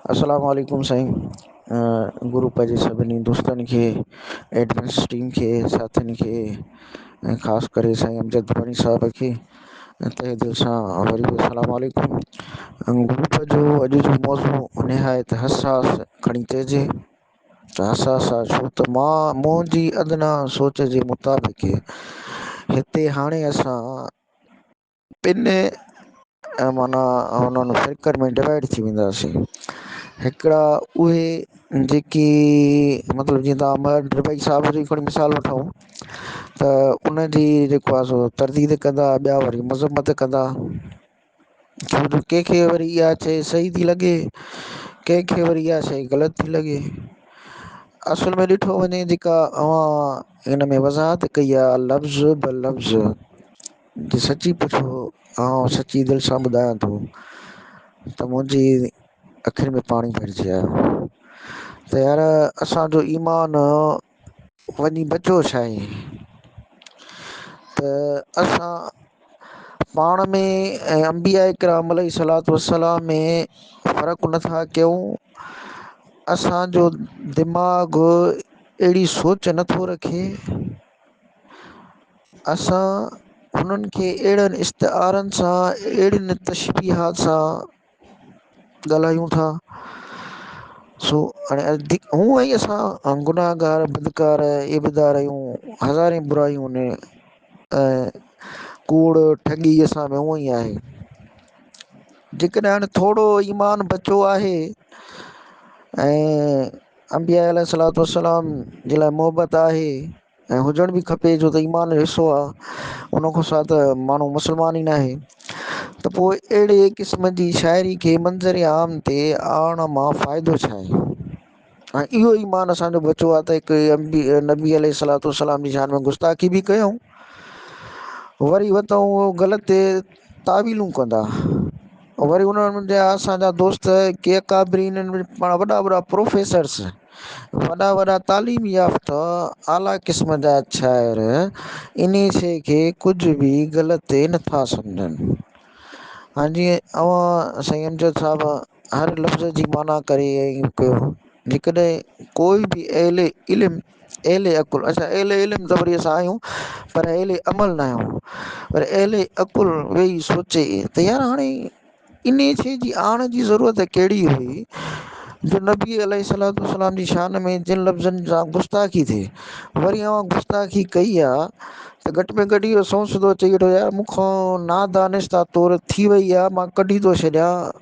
اسلام عليڪم سائين گروپ جي سڀني دوستن کي ايڊمنس ٽيم کي ساٿين کي ۽ خاص ڪري سائين امجد ڀوڻي صاحب کي تهه دل سان وري به السلام عليڪم گروپ جو اڄ جو موضوع نهايت حساس کڻي چئجي ته حساس آ ڇو ته مان منهنجي ادنا سوچ جي مطابق هتي هاڻي اسان پن ۽ معنيٰ انهن فرقن ۾ ڊوائيڊ ٿي وينداسين هڪڙا اهي جيڪي مطلب جيئن تان مهر ڊگهي صاحب جي هڪڙو مثال وٺو ته ان جي جيڪو آ سو ترديد ڪندا ٻيا وري مذمت ڪندا ڇو جو ڪنهن کي وري اها شئي صحيح ٿي لڳي ڪنهن کي وري اها شئي غلط ٿي لڳي اصل ۾ ڏٺو وڃي جيڪا اوهان ان ۾ وضاحت ڪئي آ لفظ به لفظ جي سچي پڇو آئون سچي دل سان ٻڌايان ٿو ته منهنجي اکين ۾ پاڻي ڀرجي آيو ته يار اسان جو ايمان وڃي بچو ڇا آهي ته اسان پاڻ ۾ ۽ انبياء کرام عليه صلات وسلام ۾ فرق نٿا ڪيون اسان جو دماغ اهڙي سوچ نٿو رکي اسان هنن کي اهڙن استعارن سان، اهڙين تشبيهات سان ڳالهايون ٿا، سو هون ۽ اسان گناهگار، بدڪار، عيبدار آهيون، هزارين برايون ۽ ڪوڙ، ٺڳي اسان ۾ هونئن ئي آهي. جيڪڏهن هاڻي ٿورو ايمان بچو آهي ۽. انبياء عليه الصلوة والسلام جي لاء محبت آهي ۽ هجڻ به کپي جو ته ايمان جو حصو آ ان کان سواء ته ماڻهو مسلمان ئي ناهي ته پوء اهڙي قسم جي شاعري کي منظر عام تي آڻڻ مان فائدو ڇا آهي ۽ اهو ايمان اسان جو بچو آ ته هڪ نبي عليه الصلوة والسلام جي شان ۾ گستاخي به ڪيون وري وتون غلط تاويلون ڪندا وري انهن جا اسان جا دوست ڪي اڪابرين پاڻ وڏا وڏا پروفيسرس وڏا وڏا تعليم يافته اعليٰ قسم جا شاعر انهي شي کي ڪجهه به غلط نٿا سمجهن هان جي اوهان سائين امجد صاحب هر لفظ جي معنيٰ ڪري ڪيو جيڪڏهن ڪوئي به اهل علم اهل عقل اسان اهل علم ته وري اسان آهيون پر اهل عمل نه آهيون پر اهل عقل ويهي سوچي ته يار هاڻي انهي شئي جي آڻ جي ضرورت ڪهڙي هئي جو نبي عليه الصلوته والسلام جي شان ۾ جن لفظن سان گستاخي ٿئي وري اوهان گستاخي ڪئي آ ته گهٽ ۾ گهٽ اهو سوچ سڌو چئي وٺو يار مون کان نادانستا طور ٿي وئي آ مان ڪڍي ٿو ڇڏيان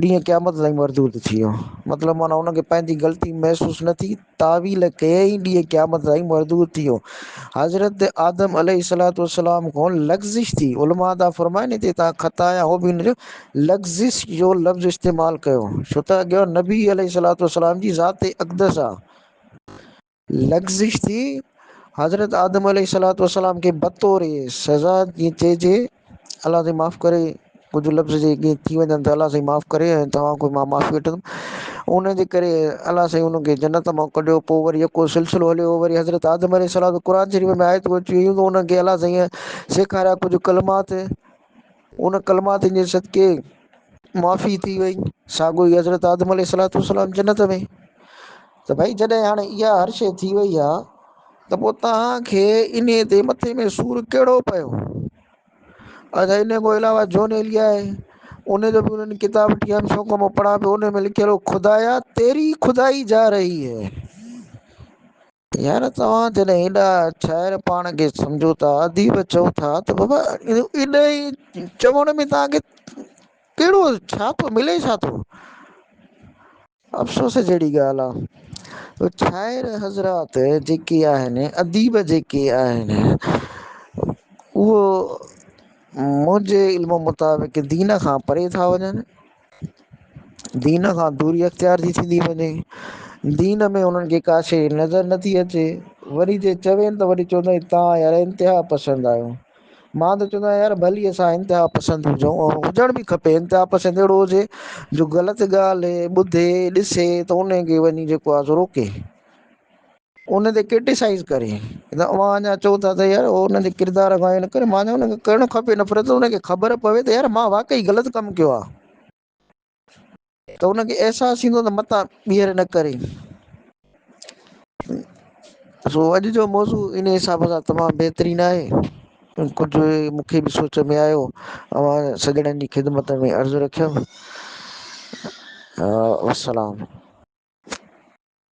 ڏينهن قيامت تائين مردود ٿي ويو مطلب معنيٰ هن کي پنهنجي غلطي محسوس نه ٿي تعويل ڪيائين ڏينهن قيامت تائين مردود ٿي ويو حضرت آدم عليه الصلات والسلام کان لغزش ٿي علماء دا فرمائن هتي تان خطا يا هو به هن جو لغزش جو لفظ استعمال ڪيو ڇو ته اڳيان نبي عليه الصلات والسلام جي ذات اقدس آ لغزش ٿي، حضرت آدم عليه الصلوة والسلام کي بطور سزا جيئن چئجي الله سائين معاف ڪري ڪجهه لفظ جي ڪيئن ٿي وڃن ته الله سائين معاف ڪري ۽ توهان کي مان معافي وٺندم ان جي ڪري الله سائين انهن کي جنت مان ڪڍيو پوء وري يڪو سلسلو هليو وري حضرت آدم عليه السلام قرآن شريف ۾ آيتون اچيون هيون ته انهن کي الله سائين سيکاريا ڪجهه ڪلمات ان ڪلماتن جي صدقي معافي ٿي وئي، ساڳيو ئي حضرت آدم عليه السلام جنت ۾. ته ڀئي جڏهن هاڻي اها هر شيء ٿي وئي آ ته پوء توهان کي انهيء تي مٿي ۾ سور ڪهڙو پيو؟ ادا انهيء کان علاوه جون ايليا آهي، انهيء جو به انهن ڪتاب ٽيهن سو کان مان پڙهان پيو، انهيء ۾ لکيل هو، خدايا تيري خدائي جا رهي هي. يار توهان جڏهن ايڏا شاعر پاڻ کي سمجهو ٿا اديب چئو ٿا ته بابا ايڏا ئي چوڻ ۾ توهان کي ڪهڙو ڇا ٿو ملي ڇا ٿو؟ افسوس جهڙي ڳالهه آ شاعر حضرات جيڪي آهن اديب جيڪي آهن اهو منهنجي علم مطابق دين کان پري ٿا وڃن دين کان دوري اختيار ٿي ٿيندي وڃي، دين ۾ انهن کي ڪا شيء نظر نه ٿي اچي، وري جي چوين ته وري چوندا آهن توهان يار انتها پسند آهيو، مان ته چوندو آهيان يار ڀلي اسان انتها پسند هجون ۽ هجڻ به کپي، انتها پسند اهڙو هجي جو غلط ڳالهه ٻڌي ڏسي ته ان کي وڃي جيڪو آهي سو روڪي. ان تي ڪرٽيسائيز ڪري ته اوهان اڃا چئو ٿا ته يار هو ان جي ڪردار کان اهو نه ڪري مان چيو ان کي ڪرڻ کپي نفرت ان کي خبر پوي ته يار مان واقعي غلط ڪم ڪيو آهي ته ان کي احساس ٿيندو ته متان ٻيهر نه ڪري سو اڄ جو موضوع ان حساب سان تمام بهترين آهي ڪجهه مون کي به سوچ ۾ آيو اوهان سڄڻن جي خدمت ۾ عرض رکيم والسلام